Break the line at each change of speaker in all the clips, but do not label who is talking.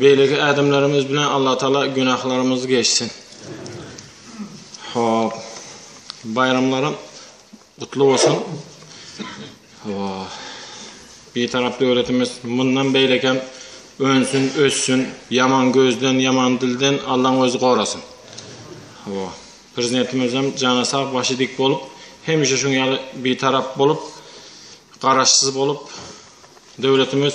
Beýleki ädimlerimiz bilen Allatagala günahlarymyzy geçsin. Hop. Baýramlaram gutly bolsun. Bitarap döwletimiz mundan beýleki hem önsün, össün. Ýaman gözden, ýaman dilden Allaň özi gorasyn. Hop. Prezidentimizem jana sag, başy dik bolup, hemişe şuň ýaly bitarap bolup, garaşsyz bolup, döwletimiz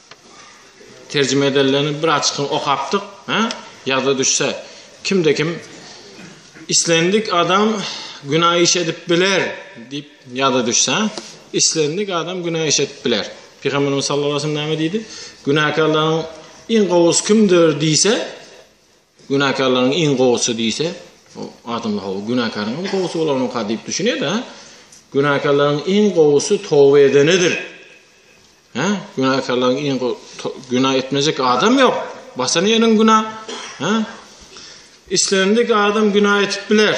Terjime edilenlerini bir açykdan okapdyk. Hä? Ýada düşse, kimde kim islendik adam günä iş edip biler diýip ýada düşse, islendik adam günä iş edip biler. Pygamberimiz sallallahu aleyhi ve sellem näme diýdi? Günäkärleriň iň gowusy kimdir diýse, Günäkärleriň iň gowusy diýse, o adamlar hawa, günäkäriň hem gowusy bolarmyka diýip düşünýär-de. Günäkärleriň iň gowusy toba edenedir. Hä? Günäkärleriň iň günä etmejek adam ýok. Basan ýeriň günä. Hä? Islendik adam günä etip biler.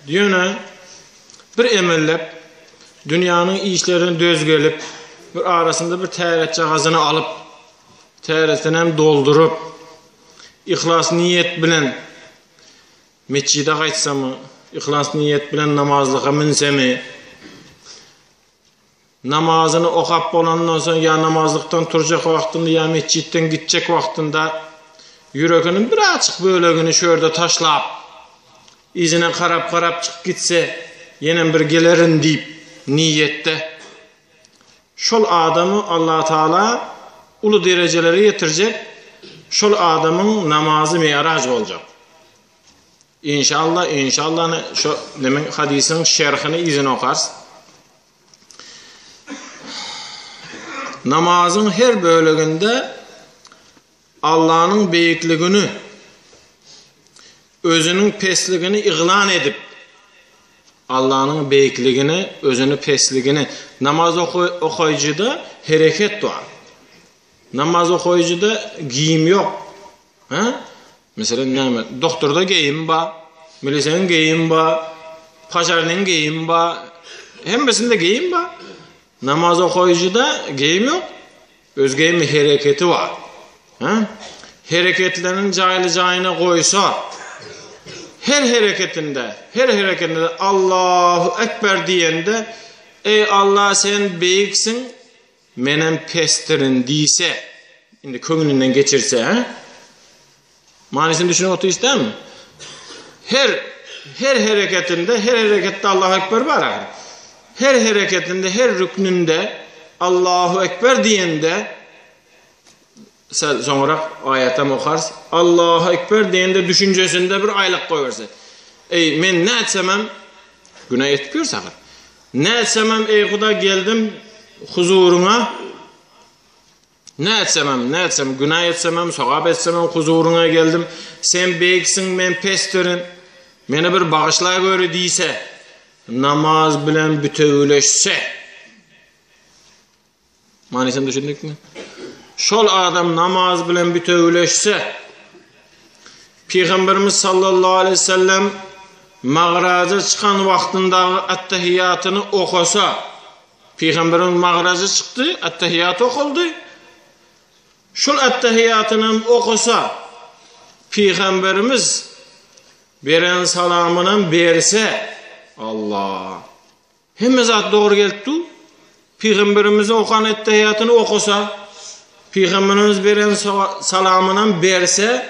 Ýöne bir emellep dünýäniň işlerine döz gelip, bir arasynda bir täretjagazyny alyp, täretini hem dolduryp, Yhlas niýet bilen metjide gaýtsamy, yhlas niýet bilen namazlyga münsemi, namazyny okap bolandan soň ýa namazlykdan turjak wagtynda ýa metjitden gitjek wagtynda ýüreginiň bir açyk bölegini şu ýerde taşlap, yzyna garap-garap çykyp gitse, ýenem bir gelerin diýip niýetde. Şol adamy Allatagala uly derejelere ýetirjek, şol adamyň namazy mi'raj boljak. Inşallah, inşallany şo nemiň hadysyň şerhini yzyna okarys. Namazyň her böleginde Allanyň beýikligini, Özüniň pesligini yglan edip, Allanyň beýikligini, Özüni pesligini, namaz okaýjyda hereket bar. Namaz okaýjyda geýim ýok. Hä? Meselem näme? Doktorda geýim bar, miliseniň geýim bar, pažarnyň geýim bar. Hemmesinde geýim bar. Namaz okaýjyda geýim ýok. Özge mi hereketi bar. He? Hereketlerini jaýly-jaýyna goýsa, her hereketinde, her hereketinde Allahu ekber diýende, Eý Alla sen beýiksiň, menem pesdirin diýse, indi köňlünden geçirse, he? Manysyny düşünip otyş dämi? Her her hereketinde, her hereketde Allahu ekber bar ahyr. Her hereketinde, her rüknünde Allahu ekber diýende sen soňrak aýatam okars. Allahu ekber diýende düşünjesinde bir aýlyk goýberse. Eý, men nätsemem günä etip ýörsem. Nätsemem eý Huda geldim huzuryňa. Ne etsemem, ne etsem, günä etsemem, sogap etsemem huzuryňa geldim. Sen beýiksiň, men pesdirin. Meni bir bagyşlagöri diýse, namaz bilen bütewileşse. Manysyny düşündikmi? Şol adam namaz bilen bütewileşse, Peygamberimiz sallallahu aleyhi ve sellem magraja çykan vaxtyndagy attahiyatını okosa, Pygamberiň magrazy çykdy, Ettehiýat okaldy. Şol Ettehiýatynam okasa, Pygamberimiz beren salamynam berse, Alla! Hemme zat dogry gelip dur. Pygamberimiziň okan Ettehiýatyny okasa, Pygamberimiz beren salamynam berse,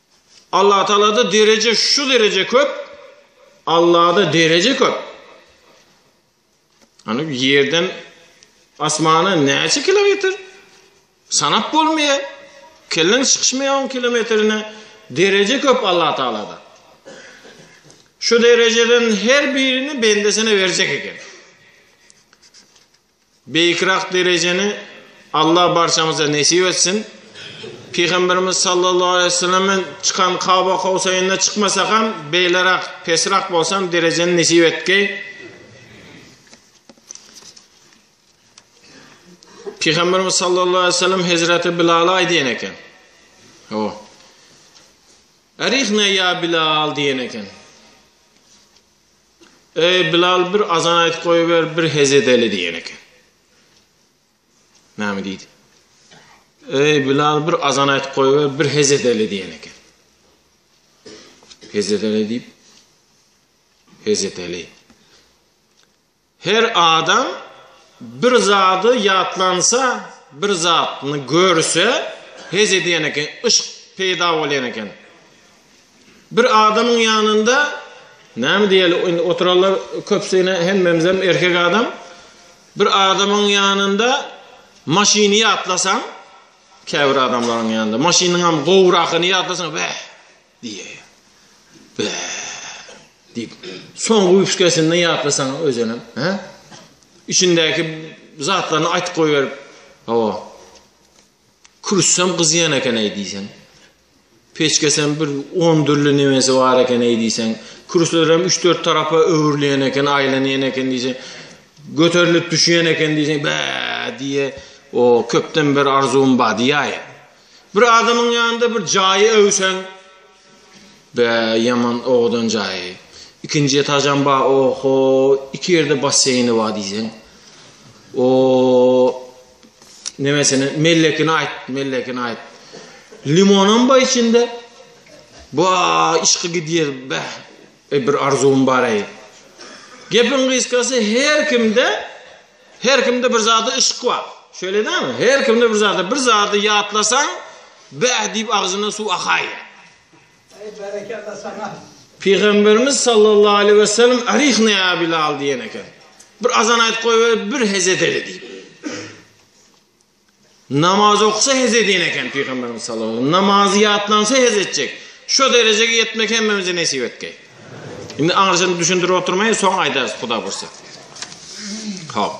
Allatagalada dereje şu dereje köp, Allada dereje köp. Ýani ýerden asmana näçe kilometr? Sanap bolmaýar. Kelleň çykyşmaýar on kilometrine dereje köp Allatagalada. Şu derejeden her birini bendesine berjek eken. Beýikräk derejeni Allah barçamyza nesip etsin. Pygamberimiz sallallahu aleýhi we sellem bilen çykan Kaba Kowsaýynda çykmasak hem beýleräk, pesräk bolsa hem derejeni nesip etgeý. Pygamberimiz sallallahu aleýhi we sellem Hezreti Bilala aýdýan eken. O. Erihne ya Bilal diýen eken. Eý, Bilal, bir azan aýt goýuber, bir hezedeli diýen eken. Näme diýdi? Eý, Bilal, bir azan aýt goýuber, bir hezedeli diýen eken. Hezedeli diýip, hezedeli. Her adam bir zady ýatlansa, bir zadyny görse, hezedeli diýen eken, yşk peýda bolýan eken. Bir adamyň ýanynda näme diýeli indi oturanlar köpsine hemmemizem erkek adam. Bir adamyň ýanynda maşyny ýatlasaň, käbir adamlaryň ýanynda maşynyňam gowrakyny ýatlasaň, bäh diýýär. Bäh diýip, soňky üpsgesini ýatlasaň özüniň, hä? Içindäki zatlaryny aýtyp goýberip, hawa. Kürsem gyzýan eken-eý diýseň. Peçkesem bir on dürli nemesi bar ekeneý diýseň. Kürsülerem üç-dört tarapa öwrülýän eken, aýlanýan eken diýseň. Göterilip düşýän eken diýseň, bä diýe. O köpden bir arzuwym bar diýäýe. Bir adamyň ýanynda bir jaýy öwseň, bä ýaman owadan jaýy. Ikinji etajam bar, oho, iki ýerde basseýni bar diýseň. O Nemesini mellekini aýt, mellekini aýt. Limonam bar içinde. Bu işki gidýär, bäh. E bir arzuwym bar eý. Gepiň gysgasy her kimde her kimde bir zady yşk bar. Şöyle dämi? Her kimde bir zady, bir zady ýatlasaň, bäh diýip agzyna suw akaýýar. Eý
berekella saňa. Pygamberimiz
sallallahu aleýhi we sellem Arihna ya Bilal diýen eken. Bir azan aýt goý we bir hez edeli diýip. Namaz oksa hez edýän eken pygamberimiz sallallahu aleýhi Namazy ýatlansa hez etjek. Şu derejege ýetmek hemmemize nesip etgeý. Indi aňyrsyny düşündirip oturmaýyn, soň aýdarys Huda bolsa. Hop.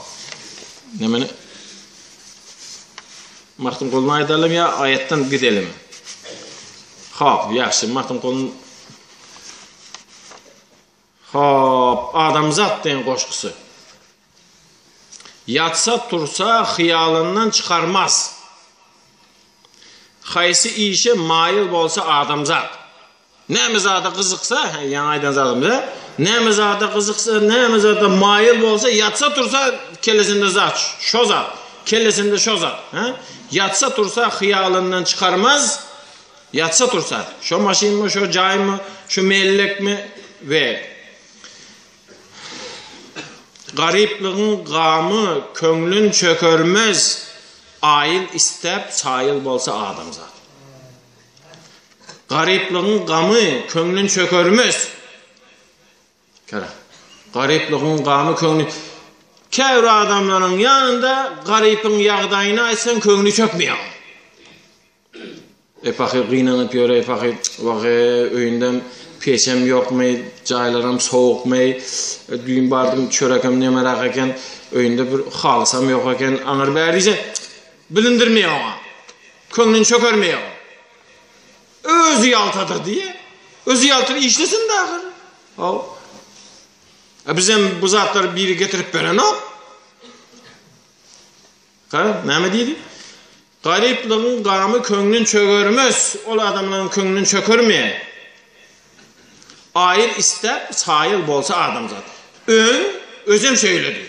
Nämeni? Magtymgulyny aýdalymy ýa aýatdan gidelimi? Hop, ýagşy, Magtymgulyny Hop, adamzat deň goşgusy. Ýatsa tursa hyýalyndan çykarmaz. Haýsy işe maýyl bolsa adamzat. Näme zada gyzyksa, hä, ýaňy aýdan zadymyz, hä? Näme zada gyzyksa, näme zada maýyl bolsa, ýatsa-tursa, kellesinde zat, şo zat, kellesinde şo zat, hä? Ýatsa-tursa hyýalyndan çykarmaz, ýatsa-tursa, şo maşynmy, şo jaýmy, şu mellekmi we garyplygyň gamy köňlün çökermez, aýyl isläp, çaýyl bolsa adamzat. Garyplygyň gamy köňlün çökermes. Kera. Garyplygyň gamy köňlü Käbir adamlaryň ýanynda garypyň ýagdaýyny aýtsaň köňli çökmeýär. E pahyr gynanyp ýör, e pahyr, wahe, öýündem peçem ýokmy, jaýlaram sowukmy, e, düýn bardym çörekem nemerak eken, öýünde bir halysam ýok eken, aňyr bäri diýse, Bilindirmeýär oňa. Köňlüni çökermeýär o. Özi ýaltadyr diýýär. Özi ýaltyr işlesin-de ahyr. Haw. A bizem bu zatlary biri getirip berenok. Ha, näme diýdi? Garyplygyň gamy köňlün çögermez, ol adamlaryň köňlün çökermeýär. Aýyl istäp çaýyl bolsa adamzat. Öň özem şeýledi.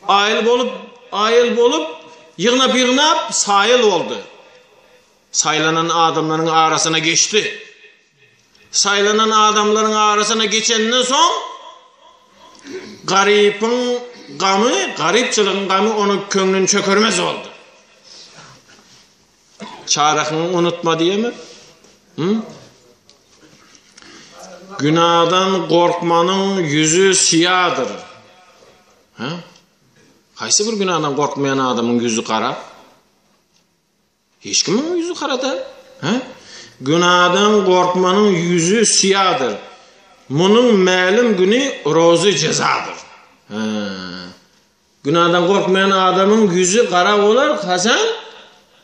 Aýyl bolup, aýyl bolup, ýygnap-ýygnap saýyl boldy. Saýlanan adamlaryň arasyna geçdi. Saýlanan adamlaryň arasyna geçenden soň garypyň gamy, garypçylygyň gamy onuň köňlüni çökermez boldy. Çarehyň unutma diýeme. Hı? Günadan gorkmanyň ýüzi syýadyr. Hä? Haýsy bir günadan gorkmaýan adamyň ýüzi gara? Hiç kimiň ýüzi gara da. Hä? Günadan gorkmanyň ýüzi syýadyr. Munuň mälim güni rozy jezadyr. Hä? Günadan gorkmaýan adamyň ýüzi gara bolar, haçan?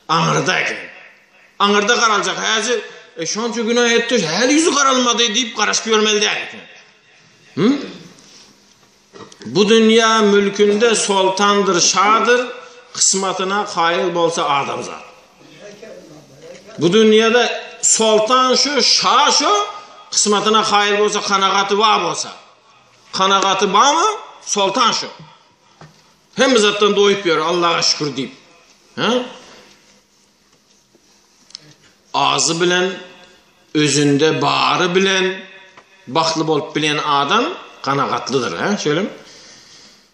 Aňyrda eken. Aňyrda garaljak, häzir, e, şonça günä etdi, häli ýüzi garalmady diýip garaşyp ýörmeli däl eken. Hü? Bu dünýä mülkünde soltandyr, şadyr, kysmatyna kaýyl bolsa adamzat. Bu dünýäde soltan şu, şa şu, kysmatyna kaýyl bolsa, kanagaty bar bolsa. Kanagaty bamy soltan şu. Hemme zatdan doýup ýör Allaha şükür diýip. Ha? Azy bilen özünde bary bilen bagtly bolup bilen adam kanagatlydyr, ha? Şeýlemi?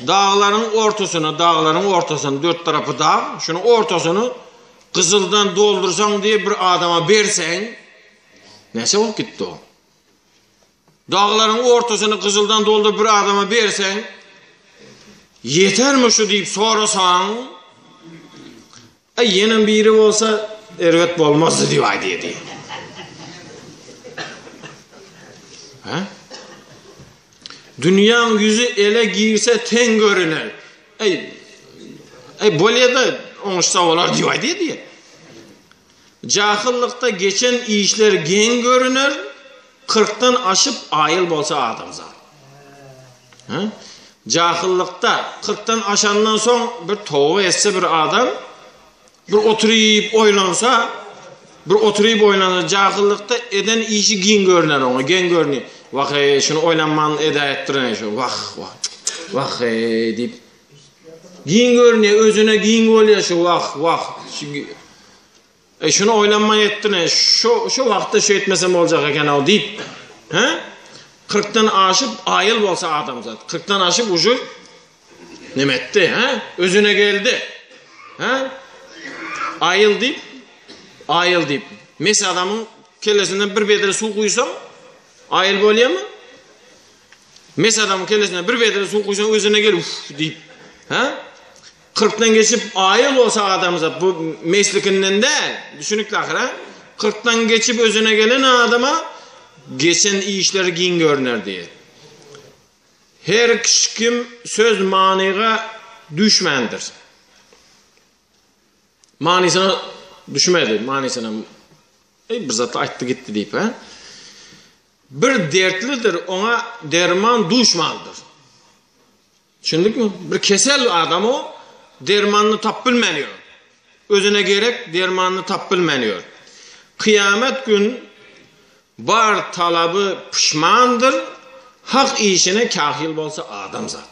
Daglaryň ortasyna, daglaryň ortasyny, dört tarapy dag, şunuň ortasyny gyzyldan doldursaň diýip bir adama berseň, näçe bolup gitdi o? Daglaryň ortasyny gyzyldan dolduryp bir adama berseň, ýetermi şu diýip sorasaň, Aý, ýenem biri bolsa, erbet bolmazdy diýip aýdýardy. Hä? Dünýäň ýüzi ele girse teň görüner. Aý, aý bolýar-da, oňuşsa bolar diýip aýdýardy. Jahyllykda geçen işler geň görüner, Kyrkdan aşyp aýyl bolsa adamzat. Hä? Jahyllykda kyrkdan aşandan soň bir toba etse bir adam, bir oturyp oýlansa, bir oturyp oýlansa jahyllykda eden işi giň görner oňa, geň görni. Wah, eý, şuny oýlanman edäýipdirin şu. Wah, wah. Wah, eý, diýip. Giň görni, özüne giň bolýar şu. Wah, wah. Eý, şuny oýlanman etdin-ä, şo-şo wagtda şeýtmesem boljak eken-ow diýip, hä? Kyrkdan aşyp, aýyl bolsa adamzat. Kyrkdan aşyp uju neme etdi, hä? Özüne geldi. Hä? Aýyl diýip, aýyl diýip. Mes adamyň kellesinden bir bedre suw guýsaň, aýyl bolýarmy? Mes adamyň kellesinden bir bedre suw guýsaň, özüne gel, uf diýip. Hä? Kyrkdan geçip aýyl bolsa adamzat bu meslikinden däl, düşünikli ahyr a? Kyrkdan geçip özüne gelen adama geçen işleri giň görüner diýýär. Her kim söz manyga düşmändir. Manysyna düşmedi, manysyna Eý bir zatda aýtdy gitdi diýip a? Bir dertlidir, oňa derman duşmandyr. Düşündikmi? Bir kesel adam o, dermanyny tapyp bilmän ýör. Özüne gerek dermanyny tapyp bilmän ýör. Kyýamet gün bar talaby puşmandyr, hak işine kahyl bolsa adam zat.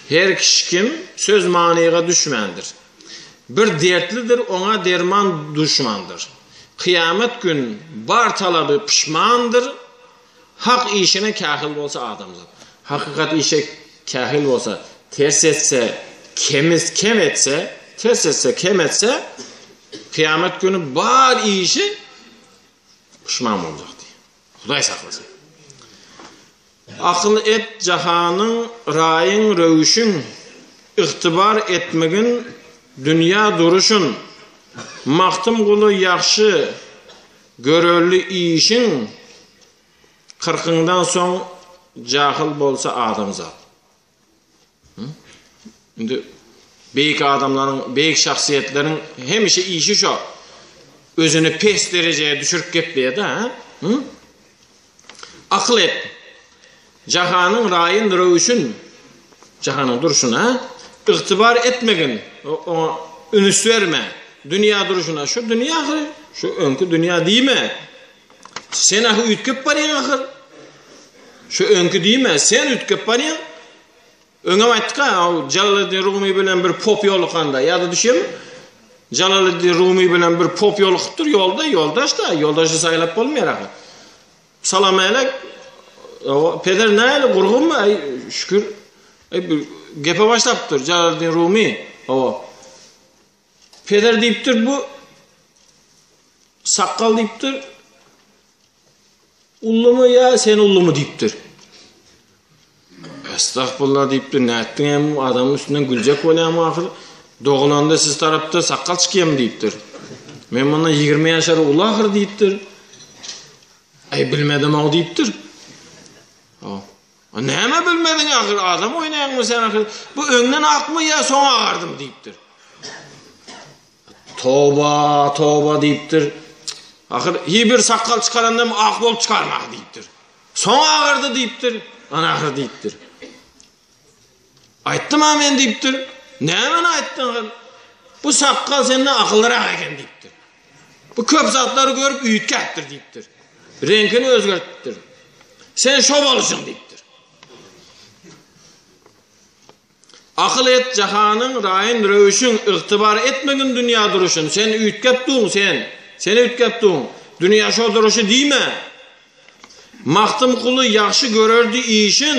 Her kişi kim söz manyga düşmändir. Bir dertlidir, oňa derman duşmandyr. Kyýamet gün bar talaby puşmandyr, Hak işine kähil bolsa adamzat. Hakykat işe kähil bolsa, ters etse, kemiz kem etse, ters etse, kem etse, kyýamat güni bar işi puşman boljak diý. Hudaý saklasyn. Akyl et jahanyň raýyň röwüşin, ygtybar etmigin dünýä duruşyn. Magtym guly ýagşy Görelli işiň kyrkyňdan soň jahyl bolsa adamzat. Indi beýik adamlaryň, beýik şahsyýetleriň hemişe işi şo. Özüni pes derejä düşürip gepleýär-de, ha? Akyl et, jahanyň raýyn röwüşin, jahanyň durşuna, ygtybar etmegin, oňa ünüs berme, dünýä durşuna, şu dünýä ahyr, şu öňki dünýä diýme, sen ahy üýtgep barýaň ahyr, şu öňki diýme, sen üýtgep barýaň. Öňem aýtdyk-a, ol Jalaleddin Rumy bilen bir pop ýolukanda, ýada düşýärmi? Jalaleddin Rumy bilen bir pop ýolukypdyr ýolda, ýoldaş-da, ýoldaşy saýlap bolmaýar ahyry. Salamälek, peder nähili, gurgunmy? Äý, şükür. Äý, bir gepe başlapdyr Jalaleddin Rumy. Hawa. Peder diýipdir bu, sakgal diýipdir. Ullumy ýa sen ullumy diýipdir. Estagfurullah diýipdir. Nätdiň hem adamyň üstünden güljek bolýamy ahyr? Doglanda siz tarapda sakgal çykýamy diýipdir. Men mundan 20 ýaşar uly ahyr diýipdir. Aý bilmedim-ow diýipdir. A näme bilmediň ahyry, adam oýnaýaňmy sen ahyry, bu öňden akmy ýa soň agardym diýipdir. Toba, toba diýipdir. Ahyr hiç bir sakgal çykaranda ak bolup çykarmak diýipdir. Soň agardy diýipdir. Ana ahyr diýipdir. Aýtdym-a men diýipdir. Nämeni aýtdyň gyz? Bu sakgal senden akyllyrak eken diýipdir. Bu köp zatlary görüp üýtgäpdir diýipdir. Reňkini özgertipdir. Sen şo boluşyň diýipdir. Akyl et jahanyň raýyn röwüşin ygtybar etmegin dünýä duruşyn. Sen üýtgäp duň sen. Sen üýtgäp duň. Dünýä şo duruşy diýme. Magtymguly ýagşy görerdi işin.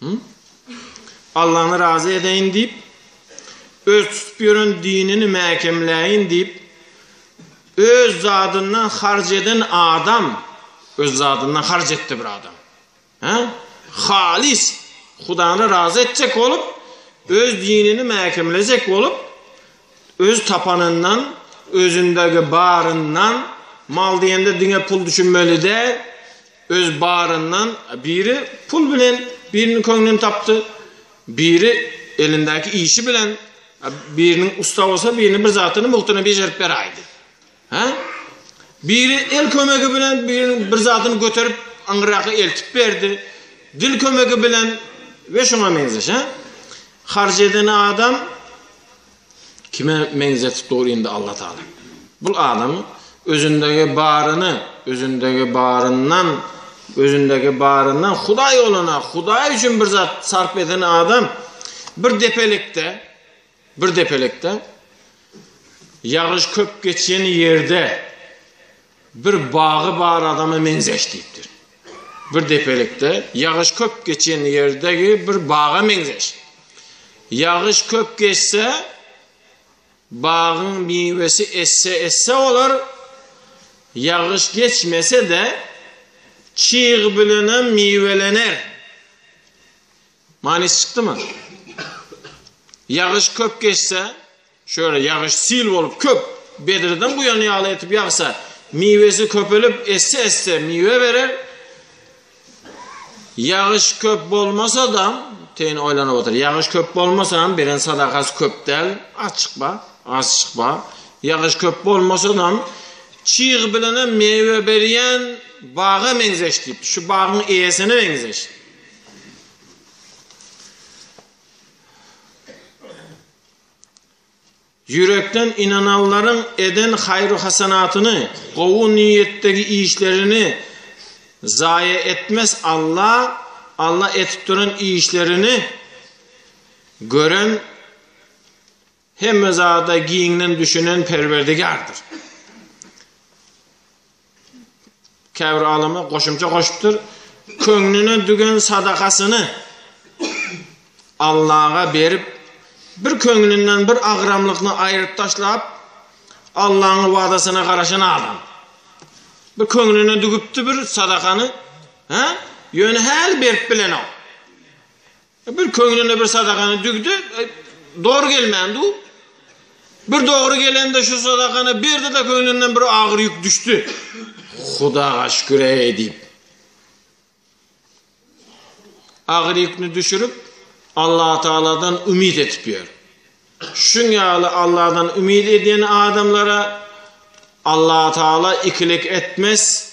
Hum. Allany razy edeýin diýip, öz tutup ýören dinini mäkemläýin diýip, öz zadyndan harç eden adam, öz zadyndan harç etdi bir adam. Hä? Halys Hudany razy etjek bolup, öz dinini mäkemlejek bolup, öz tapanyndan, özündäki baryndan, mal diýende diňe pul düşünmeli däl, Öz baryndan biri pul bilen biriniň köňlüni tapdy, biri elindäki işi bilen biriniň ussa bolsa biriniň bir zadyny mugtyna bejerip beräýdi. Hä? Biri el kömegi bilen biriniň bir zadyny göterip aňyraka eltip berdi. Dil kömegi bilen we şuňa meňzeş, hä? Harç eden adam Kime meňzetip dur indi Alla Taala? Bul adamy özündäge baryny, özündäge baryndan, özündäge baryndan Hudaý olana, Hudaý üçin bir zat sarp eden adam bir depelikde, bir depelikde ýagyş köp geçýän ýerde Bir bagy bar adama meňzeş diýipdir. Bir depelikde ýagyş köp geçen ýerdegi bir baga meňzeş. Ýagyş köp geçse, bagyň miwesi esse-esse bolar, ýagyş geçmese-de, çyg bilenem miwelener. Manysy çykdymy? Ýagyş köp geçse, şöyle ýagyş sil bolup köp, bedreden guýan ýaly etip ýagsa, miwesi köpelip, esse-esse miwe berer. Ýagyş köp bolmasa-da, teýin oýlanyp otyr. Ýagyş köp bolmasa-da, beren sadakasy köp däl, az çykba, az çykba. Ýagyş köp bolmasa-da, çyg bilen hem miwe berýän baga meňzeş diýipdi. Şu bagyň eýesine meňzeş. Ýürekden ynananlaryň eden haýru-hasanatyny, gowy niýetdägi işlerini zaýa etmez Alla, Alla edip duran işlerini gören Hemme zada giňden düşünen Perwerdigärdir. Käbir alymlar goşumça goşupdyr. Köňlüne dügen sadakasyny Allaha berip, bir köňlünden bir agramlygyny aýryp taşlap, Allahyň wadasyna garaşan adam. Bir köňlüne dügüpdi bir sadakany, ha? Ýöne häli berip bilenok. Bir köňlüne bir sadagany düwdi, dogry gelmän duw. Bir dogry gelende şu sadagany berdi-de köňlünden bir agyr ýük düşdi. Hudaga şükür-eý diýip. Agyr ýükni düşürip, Allah Taaladan umyt etip ýör. Şuň ýaly Allahdan umyt edýän adamlara Allah Taala ikilik etmez,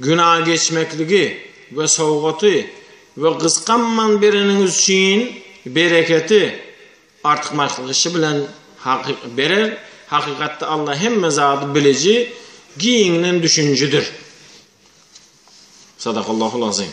Günageçmekligi we sowgaty we gysganman bereniňiz üçin bereketi, artykmaçlygyşy bilen berer, hakykatda Alla hemme zady biliji, giňden düşünjidir. Sadakallahul azim.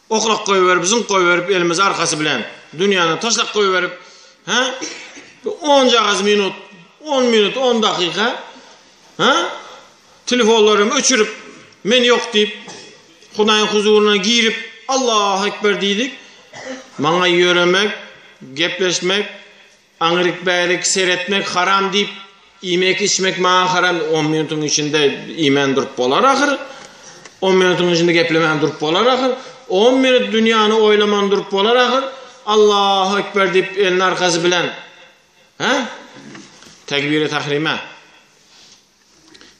Oklap goýberip, zyňk goýberip elimizi arkasy bilen dünýäne taşlap goýberip, hä? Bir onjagaz minut, on minut, on dakyka, hä? Telefonlarym öçürip, men ýok diýip, Hudaýyň huzuryna girip, Allahu ekber diýdik. Maňa ýöremek, gepleşmek, Aňryk bärik seretmek haram diýip iýmek içmek maňa haram on minutyň içinde iýmän durup bolar ahyry on minutyň içinde geplemän durup bolar ahyry on minut dünýäni oýlaman durup bolar ahyry Allahu ekber diýip elini arkasy bilen ha tekbiri tahrime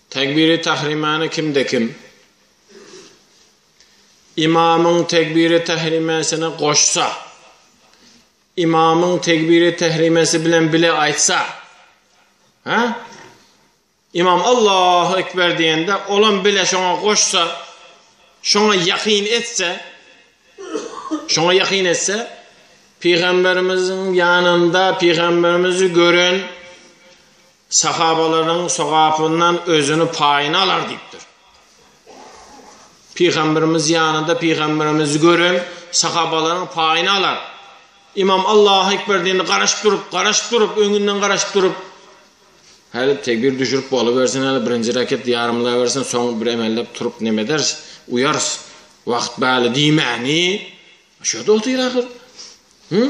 tekbiri tahrimani kimde kim imamyň tekbiri tahrimesine goşsa Ymamyň tegbiri tehrimesi bilen bile aýtsa, hä? Ymam Allahu ekber diýende, olam bile şoňa goşsa, şoňa ýakyn etse, şoňa ýakyn etse, Pygamberimiziň ýanynda Pygamberimizi gören Sahabalaryň sogapyndan özüni paýyny alar diýipdir. Pygamberimiz ýanynda pygamberimizi gören sahabalaryň paýyny alar. Imam Allahu ekber diýende garaşyp durup, garaşyp durup, öňünden garaşyp durup, Häli tekbir düşürip bolubersin, häli birinji rekat ýarymlabersin, soň bir emellep turup neme ederis, uýarys. Wagt bäli diýmäni. Şo-da otyr ahyr. Hı?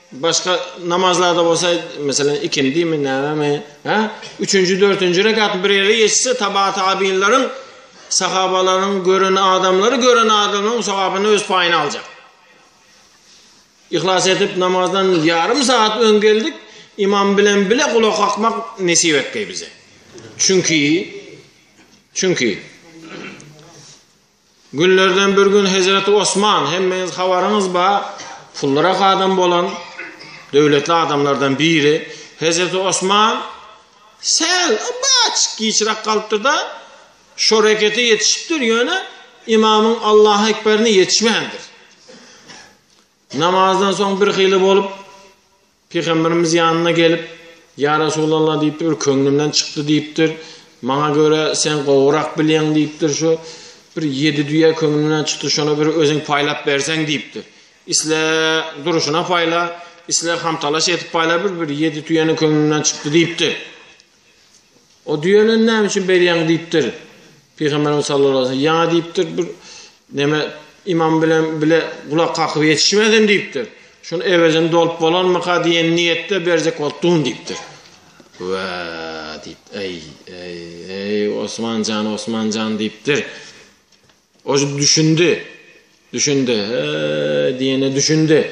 Başga namazlarda bolsa, meselem, ikindimi, nämemi, hä? Üçünji, dörtünji rekat bir ýere geçse, taba tabinleriň, sahabalaryň gören adamlary, gören adamlaryň sogabyny öz paýyna aljak. Ihlas edip namazdan ýarym saat öň geldik, imam bilen bile gulak akmak nesip etdi bize. Çünki çünki Günlerden bir gün hezreti Osman, hemmeňiz habaryňyz bar, pullyrak adam bolan, döwletli adamlardan biri, hezreti Osman säl baç giçrak galypdyr-da, şo rekete ýetişipdir, ýöne imamyň Allahu ekberine ýetişmändir. Namazdan soň birhili bolup. Pygamberimiz ýanyna gelip, Ýa Resulalla diýipdir, bir köňlümden çykdy diýipdir. Maňa görä sen gowurak bilýäň diýipdir, şu bir ýedi düýe köňlümden çykdy, şony bir özüň paýlap berseň diýipdir. Isle durşuna paýla, isle hamtalaş edip paýla, bir bir ýedi tüýäni köňlümden çykdy diýipdir. O düýeleni näme üçin berýäň diýipdir. Pygamberimiz sallallahu aleyhi ve sellem ýaňa diýipdir bir näme imam bilen bile gulak kakyp ýetişmezem diýipdir. Şun ewezini dolup bolanmyka diýen niýetde berjek bolup dum diýipdir. Wa diýip, eý, eý, eý, Osman jan, Osman jan diýipdir. O düşündi. Düşündi. He, diýene düşündi.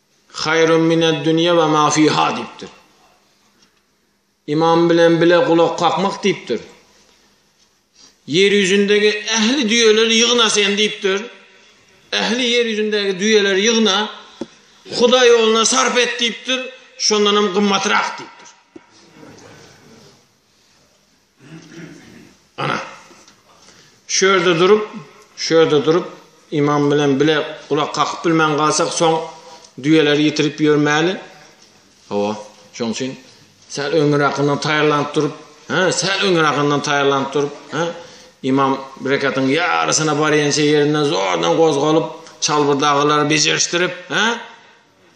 Haýrun mined dünýe we ma fiha diýipdir. Ymam bilen bile gulak kakmak diýipdir. Ýer ýüzündegi ähli düýeleri ýygna sen diýipdir. Ähli ýer ýüzündäki düýeleri ýygna, Hudaý ýoluna sarp et diýipdir, şondanam gymmatrak diýipdir. Ana. Şu ýerde durup, şu ýerde durup imam bilen bile gulak kakyp bilmän galsak, soň düýeleri ýitirip ýörmäli. Hawa, şoň üçin säl öňüräkinden taýýarlanyp durup, hä, säl öňüräkinden taýýarlanyp durup, hä, imam bir rekatyň ýarysyna barýança ýerinden zordan gozgalyp, çalbyrdaglary bejerişdirip, hä,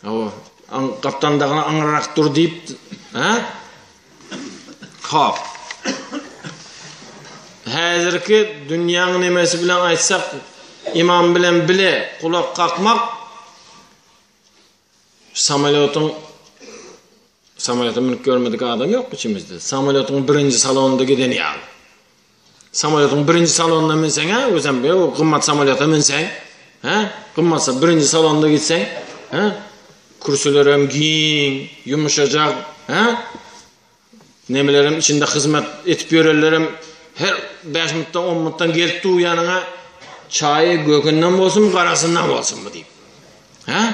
Hawa, aň gapdalyndagyny aňryrak dur diýip, hä? Hop. Häzirki dünýäň nemesi bilen aýtsak, imam bilen bile gulak kakmak samolýotyň samolýota münüp görmedik adam ýok içimizde. Samolýotyň birinji salonynda giden ýaly. Samolýotyň birinji salonyna münseň-ä, özem be, o gymmat samolýota münseň, hä? Gymmat birinji salonda gitseň, hä? Kürsüler hem giň, ýumşajak, hä? Nemeler hem içinde hyzmat edip ýörenler hem her 5 minutdan, 10 minutdan gelip dur ýanyňa çaýy gökünden bolsun, garasyndan bolsun bu diýip. Hä?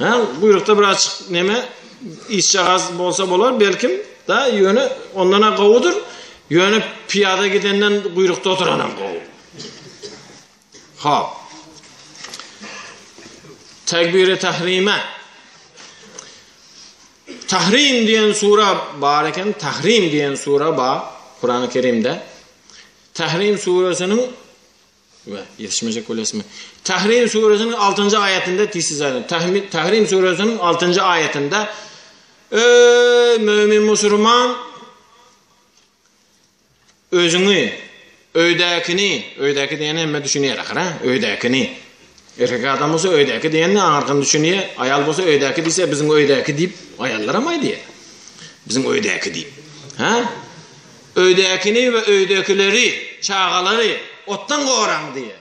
Hä, guýrukda birazjyk neme, işjagaz bolsa bolar, belkim, da, ýöne ondan-a gowudyr, ýöne pyýada gidenden guýrukda oturanam gowy. Hop. Tegbiri tahrime. Tahrim diýen sura bar eken, Tahrim diýen sura bar Kurany Kerimde. Tahrim surasiniň we ýetişmejek bolýasmy? Tahrim suresiniň altynjy aýatynda tizsiz aýdylýar. Tahmi- Tahrim suresiniň altynjy aýatynda Öý mömin musurman özüňi öýdäkini, öýdäki diýeni hemme düşünýär ahyra, öýdäkini. Erkek adam bolsa öýdäki diýende aňyrdan düşünýär, aýal bolsa öýdäki diýse biziň öýdäki diýip aýallar hem aýdýar. Biziň öýdäki diýip. Ha? Öýdäkini we öýdäkileri, çagalary otdan goraň diýýär.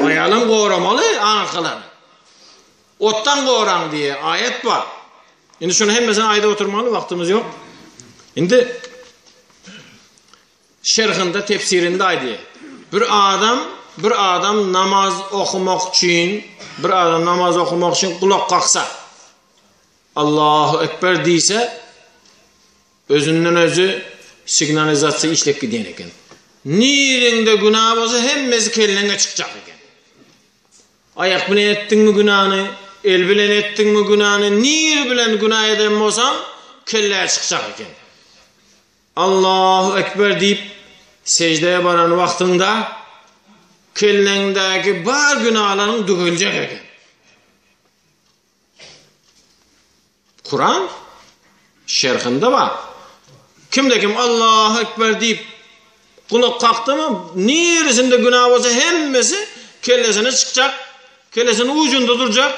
Aýalam goramaly aňyrkylary. Otdan goraň diýýär, aýat bar. Indi şuny hemmesini aýdyp oturmaly wagtymyz ýok. Indi şerhinde tefsirinde aýdýar. Bir adam, bir adam namaz okumak üçin, bir adam namaz okumak üçin gulak kaksa. Allahu ekber diýse, Özünden özi signalizasiýa işlep gidýän eken. Nireňde günä bolsa hemmesi kelleňe çykjak eken. Aýak bilen etdiňmi günäni, el bilen etdiňmi günäni, nire bilen günä eden bolsaň kellä çykjak eken. Allahu ekber diýip seždä baran wagtyňda kelleňdäki bar günalaryň düzeljek eken. Kuran şerhinde bar. Kimde kim Allahu ekber diýip kulak kakdymy, niresinde günah bolsa hemmesi kellesine çykjak, kellesiniň ucunda durjak.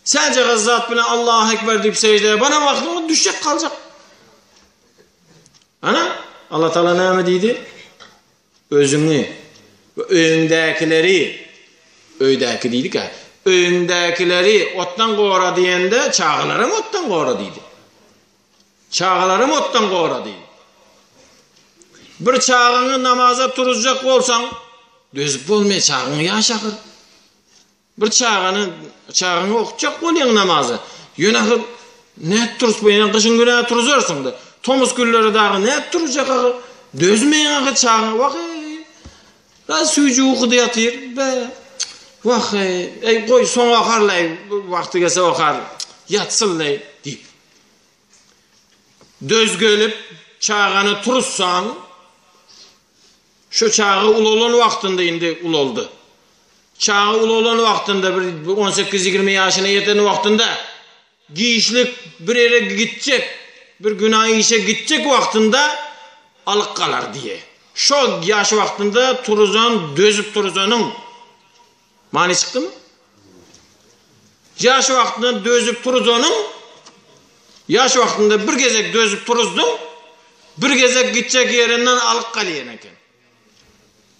Sence gazzat bilen Allahu ekber diýip sejdeye bana wagtyň düşjek kaljak. Ana Allah Taala näme diýdi? Özüňi we öýüňdäkileri, öýdäki diýdik-ä, öýüňdäkileri otdan gora diýende, çagalaram otdan gora diýdi. Çagalaram otdan gora diýdi. Bir çagaňy namaza turuzjak bolsaň, dözüp bolmaýar, çagaň ýaşy ahyr. Bir çagany çagaňy okutjak bolýaň namaza. Ýöne ahyr nädip turup bolýar? Gyşyň günä turuzarsyň-da. Tomus günleri dagy nädip turujak ahyr? Dözmeýän ahyr çagaň. Waheý! Biraz süýji ukuda ýatyr. Be! Waheý! Eý, goý, soň okarlaý. Wagty gelse okar. Ýatsynlaý, diýip. Döz gelip, çagany turuzsaň, Şu çaga ulalan wagtynda indi ulaldy. Çaga ulalan wagtynda bir on sekiz ýigrimi ýaşyna ýeten wagtynda giçlik bir ýere gitjek, bir günä işe gitjek wagtynda alyk galar diýe. Şo ýaş wagtynda turuzan dözüp turuzanyň. Many çykdymy? Ýaş wagtyndan dözüp turuzanyň, ýaş wagtynda bir gezek dözüp turuzdyň, bir gezek gitjek ýerinden alyk galýan eken.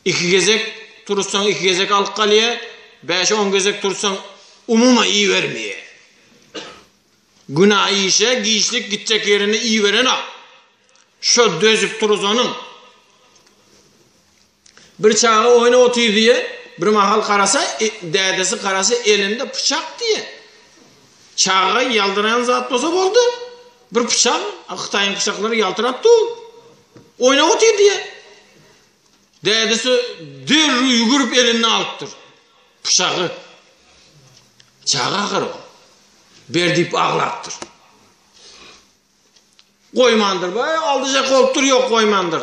Iki gezek turuzsaň, iki gezek alyk galýa, bäş-on gezek turuzsaň, umuman iýibermeýä. Günä işe, giçlik gitjek ýerine iýiberenok. Şo dözüp turuzanyň, Bir çaga oýna otyr diýe, bir mahal garasa, dädesi garasa elinde pyçak diýe. Çaga ýaldyraýan zat bolsa boldy. Bir pyçak, Hytaýyň pyçaklary ýaltyrap dur. Oýna otyr diýe. Dädesi derrew ýügürip elinde alypdyr. Pyçagy. Çaga ahyr o. Ber diýip aglapdyr. Goýmandyr, baý aldyjak bolupdyr, ýok goýmandyr.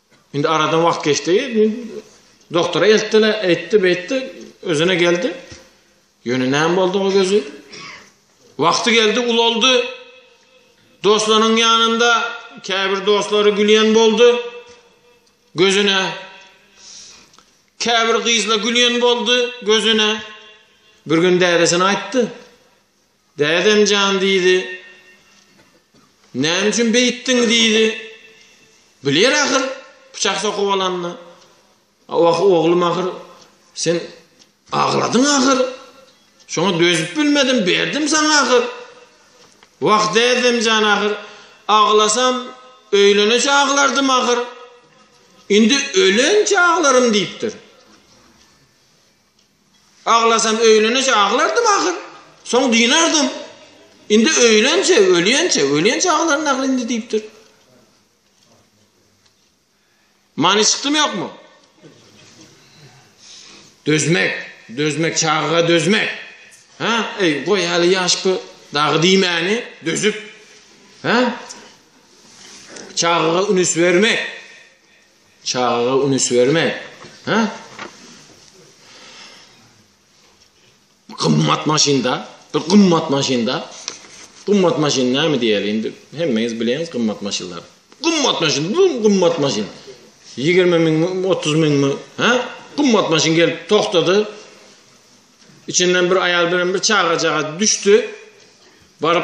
Indi aradan wagt geçdi. Doktora eltdiler, eýtdi, beýtdi, özüne geldi. Ýöne näme boldy o gözi? Wagty geldi, ulaldy. Dostlarynyň ýanynda käbir dostlary gülýän boldy. Gözüne käbir gyzla gülýän boldy gözüne. Bir gün dädesine aýtdy. Dädem jan diýdi. Näme üçin beýtdiň diýdi. Biler ahyr pyçak sokup alanyny. Wah oglum ahyr sen agladyň ahyr. Şoňa dözüp bilmedim berdim saňa ahyr. Wah dädem jan ahyr aglasam öýleneçe aglardym ahyr. Indi ölençe aglarym diýipdir. Aglasam öýlenençä aglardym ahyr. Soň dynardym. Indi öýlençä, ölýänçä, ölýänçä aglaryn ahyr indi diýipdir. Many çykdymy ýokmy? Dözmek, dözmek, çagaga dözmek. Ha, eý, goý häli ýaşky dagy diýmäni dözüp. Ha? Çagaga ünüs bermek. Çagaga ünüs berme. Hä? Gymmat maşynda, bir gymmat maşynda. Gymmat maşyn näme diýeli indi? Hemmeňiz bileňiz gymmat maşynlary. Gymmat maşyn, bu gymmat maşyn. 20 ming, 30 ming mi? Hä? Gymmat maşyn gelip togtady. Içinden bir aýal bilen bir çagajagaz düşdi. Baryp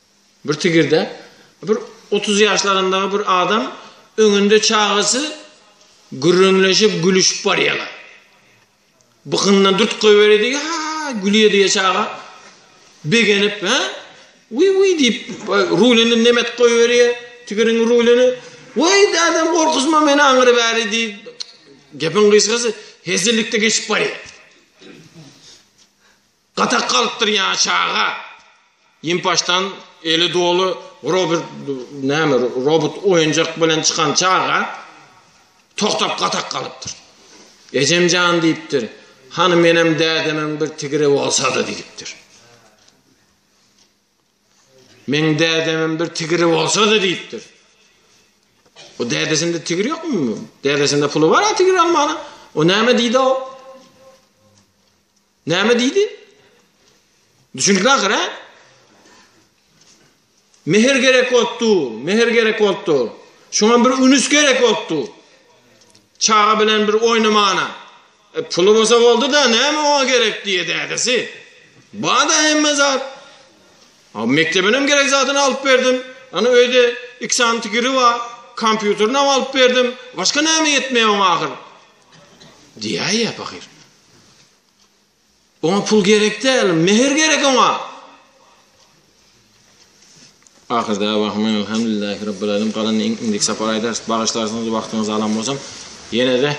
Bir tigirde bir otuz ýaşlaryndaky bir adam öňünde çagasy gürrüňleşip gülüşip barýalar. Bykyndan dürt goýberi diýip, ha, gülýe diýip çaga begenip, ha? Wi wi diýip rulini nemet goýberýär, tigiriň rulini. Wei adam gorkuzma meni aňyry bäri diýip gepiň gysgasy hezillikde geçip barýar. Gatak galypdyr ýa çaga. Ýimpaçdan eli doly Robert näme robot oýunjak bilen çykan çaga togtap gatak galypdyr. Ejem jan diýipdir. Hany menem dädemem bir tigre bolsady diýipdir. Men dädemem bir tigre bolsady diýipdir. O dädesinde tigir ýokmy? Dädesinde puly bar, tigir almana. O näme diýdi o? Näme diýdi? Düşünikli ahyr, hä? Mehr gerek bolupdy, mehr gerek bolupdy. Şoňa bir ünüs gerek bolupdy. Çaga bilen bir oýnamana. E, puly bolsa boldy-da, näme oňa gerek diýe dädesi. Bada hemme zat. A mekdebinem gerek zadyny alyp berdim. Ana öýde iki sany tigiri bar. Kompýuterini alyp berdim. Başga näme ýetmeýär oňa ahyr? Diýäýýä pahyr. Oňa pul gerek däl, mehr gerek oňa. Ahyr dawahym elhamdülillahi rabbil alim galan indik sapar aýdar bagyşlarsyňyz wagtyňyzy alan bolsam ýene de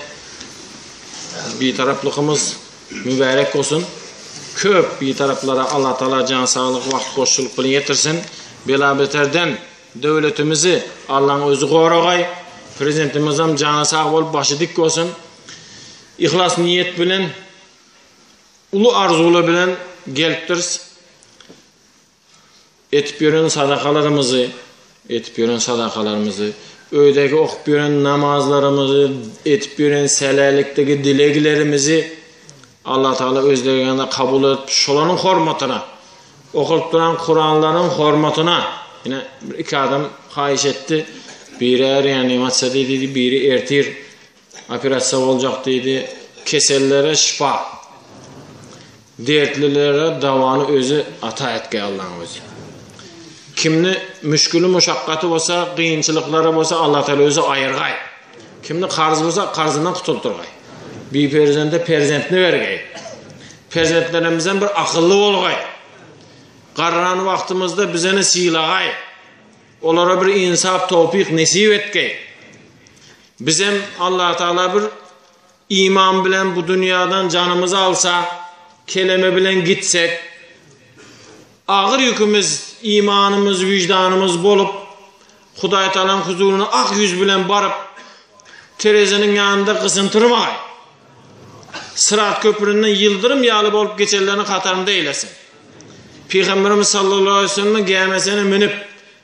bir taraplykymyz mübärek bolsun köp bir taraplara Allah taala jan saglyk wagt boşçulyk bilen ýetirsin bela beterden döwletimizi Allahň özi goragay prezidentimiz hem jany sag bolup başy dik bolsun Yhlas niýet bilen, uly arzuwlar bilen gelipdiris. Etip ýören sadakalarymyzy, etip ýören sadakalarymyzy, öýdäki okup ýören namazlarymyzy, etip ýören sälälikdäki dileglerimizi Allah Taala öz dergähinde kabul edip, şolaryň hormatyna, okalyp duran Kuranlaryň hormatyna, ýene iki adam haýyş etdi. Biri äriýan, ýaňy çydy diýdi, biri ertir. Operasiýa boljak diýdi. Kesellere şypa. Dertlilere dawany özi ata etge Allaň özi. Kimni müşgili muşakgaty bolsa, gynçylyklary bolsa Allah Taala özi aýyrgaý. Kimni karz bolsa karzyndan kutuldyrgaý. Bi perzende perzentni bergeý. Perzentlerimizden bir akylly bolgaý. Garran wagtymyzda bizeni sylagaý. Olara bir insap tawfik nesip etgeý. Bizem Allatagala bir iman bilen bu dünýäden janymyzy alsa, keleme bilen gitsek, agyr ýükümiz imanymyz, wyždanymyz bolup, Hudaýtagalaň huzuryna ak ýüz bilen baryp, tereziniň ýanynda gysyntyrmaý, Syrat köpürinden ýyldyrym ýaly bolup geçenleriň hatarynda eýlesin. Pygamberimiz sallallahu aleýhi we sellemiň gämisine münüp,